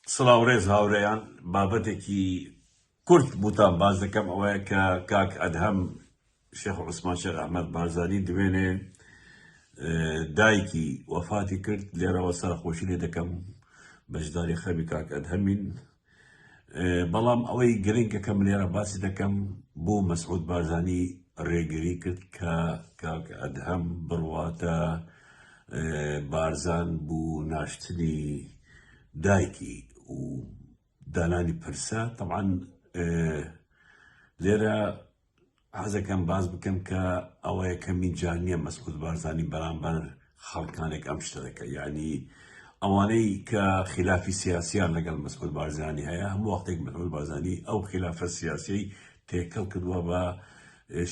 سڵاو ڕێز هاورێیان بابەتێکی کورت بوتان باس دەکەم ئەوەیە کە کاک ئەدهەم شێخ عوسمان شێخ ئەحمەد بارزانی دوێنێ دایکی وەفاتی کرد لێرەوە سەرخۆشی لێ دەکەم بەشداری خەمی کاک ئەدهەمین بەڵام ئەوەی گرنگە کە منێرە باسی دەکەم بۆ مەسعود بارزانی ڕێگری کرد کە کاک ئەدهەم بڕواتە بارزان بوو ناشتنی دایکی و دانانی پرسە تەعاان لێرە حەزەکەم باز بکەم کە ئەوە یەکەمین جار نییە مەسعود بارزانانی بەرامبەر خەڵکانێک ئەم شتە دەکە یعنی ئەوانەی کە خلافی سیاسیان لەگەڵ مەسعود بارزانانی هەیە هەموو وەختێک مەسعود بارزانانی ئەو خلافە سیاسی تێکەڵ کردووە بە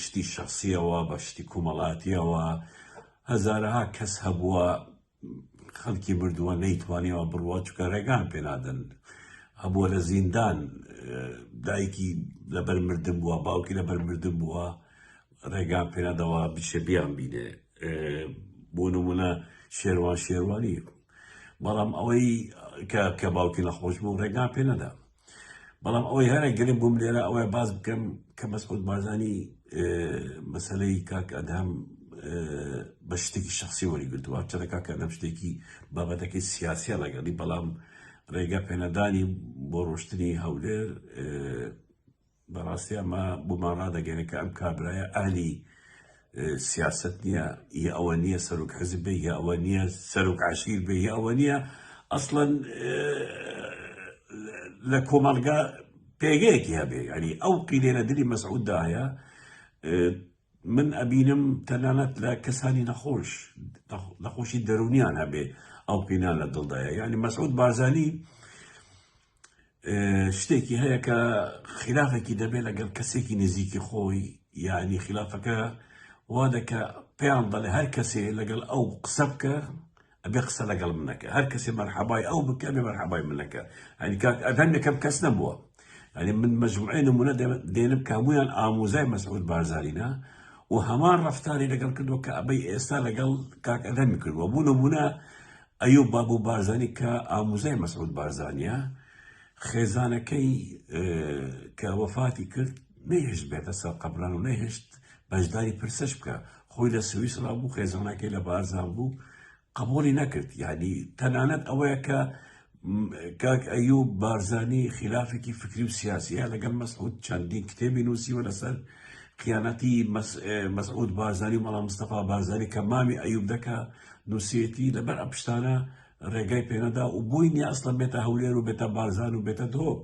شتی شخصیەوە بە شتی کومەڵاتیەوە هەزارەها کەس هەبووە خەڵکی مردووە نەیتوانیەوە بڕوا چکە ڕێگان پێنادەن ئەبووە لە زیندان دایکی لەبەر مردن بووە باوکی لەبەر مردن بووە ڕێگان پێنادەوە بچێ بیان بینێ بۆ نمونە شێوان شێوانی بەڵام ئەوەی کە باوکی نەخۆش بوو ڕێگان پێ نەدا بەڵام ئەوەی هەرە گرنگ بووم لێرە ئەوەیە باز بکەم کە مەسعود بارزانی مەسلەی کاک ئەدهەم بە شتێکی شخصی وەریگرتووە چەنە کاک ئەدەم شتێکی بابەتەکەی سیاسیە لەگەڵی بەڵام ڕێگە پێنەدانی بۆ ڕۆشتنی هەولێر بەڕاستی ئەمە بۆمان ڕادەگەێنێت کە ئەم کابرایە ئالی سیاست نییە یە ئەوە نییە سەرک حەزب بێ یە ئەوە نییە سەرک عشیر بێ یە ئەوە نییە ئەسڵەن لە کۆمەلگا پێگەیەکی هەبێ ینی ئەو قیلێنە دلی مەسعوددایە من ئەبینم تەنانەت لە کەسانی نەخۆش نەخۆشی دەرونیان هەبێ ئەو قینان لە دڵدایە یعنی مەسعود بارزانی شتێکی هەیە کە خلافێکی دەبێت لەگەڵ کەسێکی نزیکی خۆی یعنی خلافەکە وا دەکە پێیان دەڵێ هەر کەسێ لەگەڵ ئەو قسە بکە ئەبێ قسە لەگەڵ من نەکە هەر کەسێ مەرحەبای ئەو بکە بێ مەرحەبای من نەکە ئەنی کاک ئەدهەم یەکەم کەس نەبووە ئەنی من مەجموعی نمونە دێنم کە هەمویان ئاموزای مەسعود بارزانینە و هەمان ڕفتاری لەگەڵ کردو کە ئەبەی ئێستا لەگەڵ کاک ئەدەمی کردوە بوو نمونە ئەیوب بابو بارزانی کە ئاموزای مەسعود بارزانیە خێزانەکەی کە وەفاتی کرد نەیهشت بێتە سەر قەبران و نەیهشت بەشداری پرسەش بکە خۆی لە سویسرا بوو خێزانەکەی لە بارزان بوو قبولی نەکرد یعنی تەنانەت ئەوەیە کە کاک ئەیوب بارزانی خلافێکی فکری و سیاسیە لەگەڵ مەسعود چەندین کتێبی نووسیوە لەسەر قیانەتی مەسعود بارزانی و مەڵام مستەفا بارزانی کە مامی ئەیوب دەکە نووسێتی لەبەر ئە پشتانە ڕێگای پێنەدا و بووی نیە ئەسڵە بێتە هەولێر و بێتە بارزان و بێتە دۆک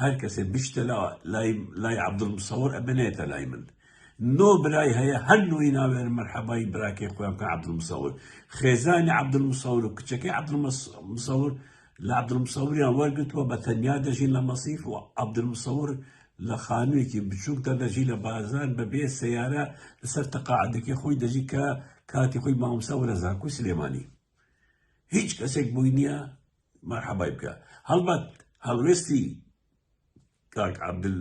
هەر کەسێ بچتە لا لای لای عبدول مسەور ئەبێ نێتە لای من نۆ برای هەیە هەر نوی ناوێن مەرحەبای براکەی خۆیان بکەن عبدول مسەور خێزانی عبدول مسەور و کچەکەی عبدول مسەور لە عبدول مسەوریان وەرگتووە بە تەنیا دەژین لە مەسیف و عبدول مسەور لە خانوویەکی بچووکدا دەژی لە بازار بەبێ سەیارە لەسەر تەقاعدەکەی خۆی دەژی کە کاتی خۆی مامۆستا وەرە زانکۆی سلێمانی هیچ کەسێک بووی نییە مەرحەبای بکە هەڵبەت هەڵوێستی کاک عەبدول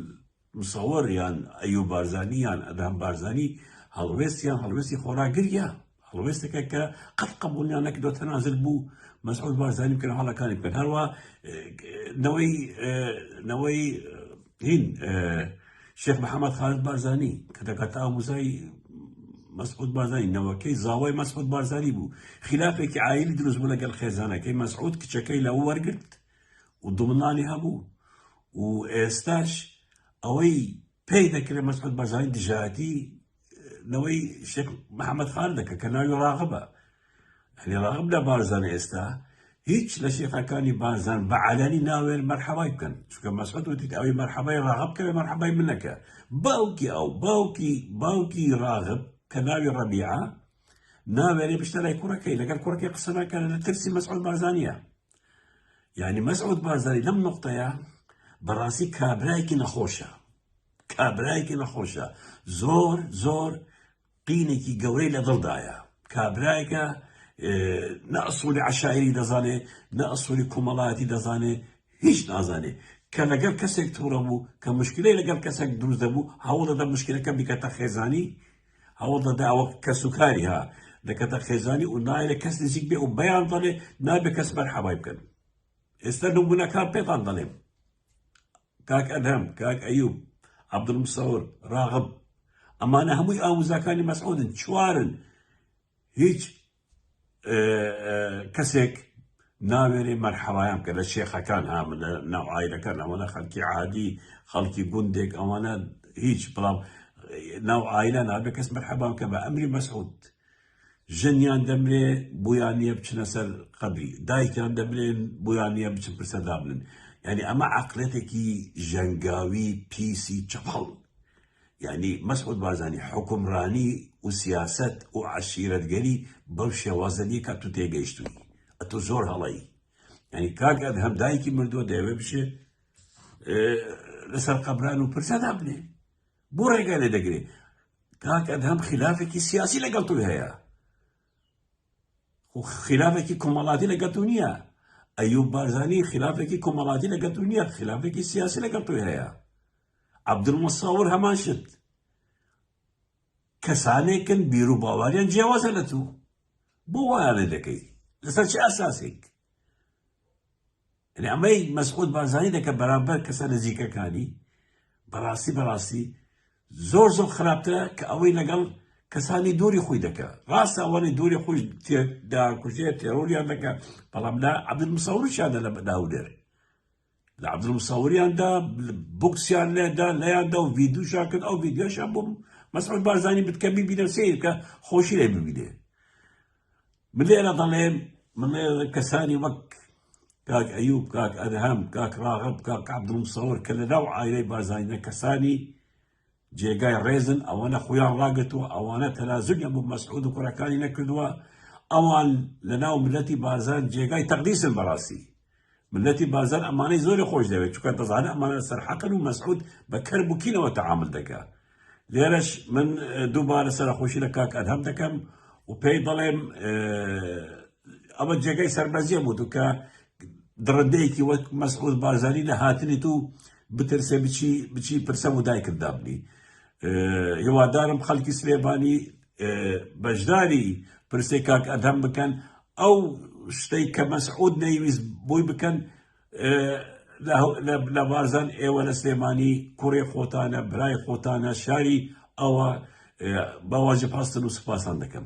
مسەوەر یان ئەیوب بارزانی یان ئەدهەم بارزانی هەڵوێستیان هەڵوێستی خۆراگریە هەڵوێستەکە کە قەت قبولیان نەکردۆ تەنازل بوو مەسعود بارزانی بکەن هەڵەکانی بکەن هەروە نەوەی نەوەی هین شێخ محەمەد خالد بارزانی کە دەکاتە ئاموزای مەسعود بارزانی نەوەکەی زاوای مەسعود بارزانی بوو خلافێکی ئایلی دروست بوو لەگەڵ خێزانەکەی مەسعود کچەکەی لەوە وەرگرت و دومنانی هەبوو و ئێستاش ئەوەی پێی دەکرێت مەسعود بارزانی دژایەتی نەوەی شێخ محەممەد خان دەکە کە ناوی ڕاغبە ئەلی ڕاغب لە بارزان ئێستا هیچ لە شێخەکانی بارزان بە عالانی ناوێن مەرحەوای بکەن چکە مەسعود وتیت ئەوی مەرحەبای ڕاغب کەێ مەرحەبای منەکە باوکی ئەو باوکی باوکی ڕاغب کە ناوی ڕەبیعە ناوێنێ بشتە لای کوڕەکەی لەگەر کوڕەکەی قسە ناکەن لە ترسی مەسعود بارزانە یعنی مەسعود بارزانی لەم نقطەیە بەڕاستی کابراایکی نەخۆشە کابرایەکی نەخۆشە زۆر زۆر قینێکی گەورەی لە دڵدایە کابرایەکە نە ئەسووری عشاعری دەزانێ نە ئەسووری کۆمەڵایەتی دەزانێ هیچ نازانێ کە لەگەڵ کەسێک تووڕە بوو کە مشکلی لەگەڵ کەسێک دروست دەبوو هەوڵ دەدە مشکلەکە بکەتە خێزانی هەوڵ دەدا ئەوە کەس و کاری ها دەکەتە خێزانی و نایە کەس نزیک بێ و بەیان دەڵێ نابێ کەس بەرحەوای بکەن ئێستا نمونونەکان پێتان دەڵێم کاک ئەدهەم، کاک ئەیوب، عەبدولمسەور، ڕاغب، ئەمانە هەمووی ئاموزاکانی مەسعودن چوارن هیچ کەسێک ناوێرێ مەرحەوایان بکە لە شێخەکان ها لە ناو ئایرەکان ئەوانە خەلکی عادی خەڵکی گوندێک ئەوانە هیچ بەڵام ناو ئایلە نابێ کەس مەرحەبان کە بە ئەمری مەسعود ژنیان دەمرێ بۆیان نیە بچنە سەر قەبری دایکیان دەمرێن بۆیان نیە بچن پرسە دابنن یعنی ئەمە عقلێتێکی ژەنگاوی پیسی چەپەڵ یعنی مەسعود بارزانی حکومڕانی و سیاست و عشیرەتگەری بەو شێوازە نیە کە تو تێگەیشتووی ئەتۆ زۆر هەڵەی یعنی کاک ئەدهەم دایکی مردووە دەیەوێ بچێ لەسەر قەبران و پرسە دابنێ بۆ ڕێگا لێ دەگرێ کاک ئەدهەم خلافێکی سیاسی لەگەڵ توی هەیە خو خلافێکی کۆمەڵاتی لەگەڵ تو نییە ئەیوب بارزانی خلافێکی کۆمەڵاتی لەگەڵ تو نییە خلافێکی سیاسی لەگەڵ توی هەیە عبدالمساور هەمان شت کەسانێکن بیر و باواریان جیاوازە لە تو بۆ وایانە دەکەی لەسەر چه ئەساسێک یەعنی ئەمەی مەسعود بارزانی دەکە بەرامبەر کەسە نزیکەکانی بەراستی بەراستی زۆر زۆر خراپترە کە ئەوەی لەگەڵ کەسانی دووری خۆی دەکە ڕاستە ئەوانی دووری خۆش داکوژێ تێرۆریان دەکە بەڵام لا عبدل مسەوریشیانە لە بەداودێر لە عبدل مسەوریاندا بکسیان لێدا لەیاندا و ڤیددیوشان کرد ئەو ڤیددیۆشان بووم مەسعود بارزانی بتکەمی بینە سیر کە خۆشی لێ ببینێ من لێرە دەڵێم من لێرە کەسانی وەک کاک ئەیوب کاک ئەدهەم کاک ڕاغب کاک عبدالمسەور کە لە ناو عائلەی بارزانینە کەسانی جێگای ڕێزن ئەوەنە خۆیان ڕاگرتووە ئەوانە تەنازولیان بۆ مەسعود و کوڕەکانی نەکردووە ئەوان لە ناو ملەتی بارزان جێگای تەقدیسن بەڕاستی ملەتی بارزان ئەمانەی زۆری خۆش دەوێت چونکە دەزانێت ئەمانە لەسەر حەقن و مەسعود بە کەر بوکینەوە تەعامل دەکا لێرەش من دووبارە سەرەخۆشی لە کاک ئەدهەم دەکەم و پێی دەڵێم ئەمە جێگەی سەربەزیە بوو کە دڕندەیەکی وەک مەسعود بارزانی لە هاتنی تو بترسێ بچی بچی پرسە و دایکت دابنی هیوادارم خەڵکی سلێبانی بەژداری پرسەی کاک ئەدهەم بکەن ئەو شتەی کە مەسعود نەیویست بۆی بکەن لە بارزان ئێوە لە سلێمانی کوڕێ خۆتانە برای خۆتانە شاری ئەوە باواجب هەستن و سوپاسان دەکەم.